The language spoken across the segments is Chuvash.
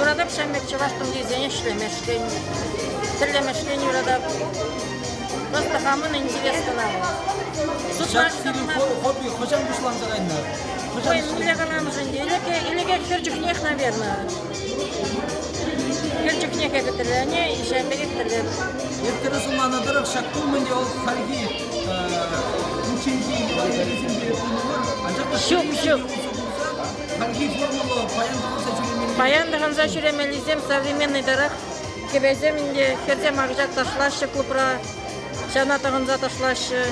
Юратап ҫав пек чӑваш тумтирсене ӗҫлемешкӗн, тӗрлемешкӗн юратап. Просто хамӑн интерес кӑна. Ҫак фильм хобби хӑҫан пуҫланса кайнӑ? Ой, мӗнле каланӑшӑн илеке, илеке хӗр чухнех, наверное. Хӗр чухнехе хӗтӗрлене, иҫе пек хӗтӗрлем. Ирттере сӑнланӑ тӑрӑх ҫак тумӗнче вӑл хальхи ученьки ювелирсемпе пулнӑ мар, анчах та ҫук, ҫук. Хальхи формулӑ паян тӑхӑнса ҫӳремелли. Паян тӑхӑнса ҫӳремеллисем современнӑйтарах. Кӗпесем ӗнтӗ хӗрсем акҫа ташлаҫҫӗ клубра, ҫана тӑхӑнса ташлаҫҫӗ.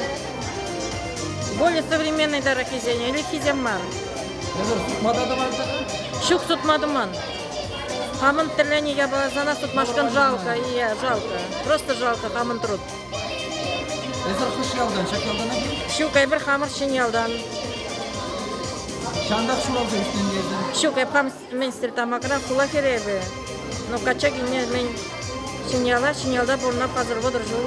Более современнӑйтараххисен ӗлӗкхисем мар. Эсӗр сутма та тӑванса-ха? Ҫук, сутма туман. Хамӑн тӗлленӗ япала сана сутмашкӑн жалко, и жалко. Просто жалко хамӑн труд. Эсир хӑш ялтан, ҫак ялтана килнӗ? Ҫук, эпир хамӑр Ҫӗньялтан. Ҫантах ҫуралса ӳснӗ эсир? Ҫук, эпӗ мӗн Стертамакра хула хӗрӗ эпӗ. Но качча килне мӗн Ҫӗньяла, Ҫӗньялта пурӑнма пасар вӑтӑр ҫул.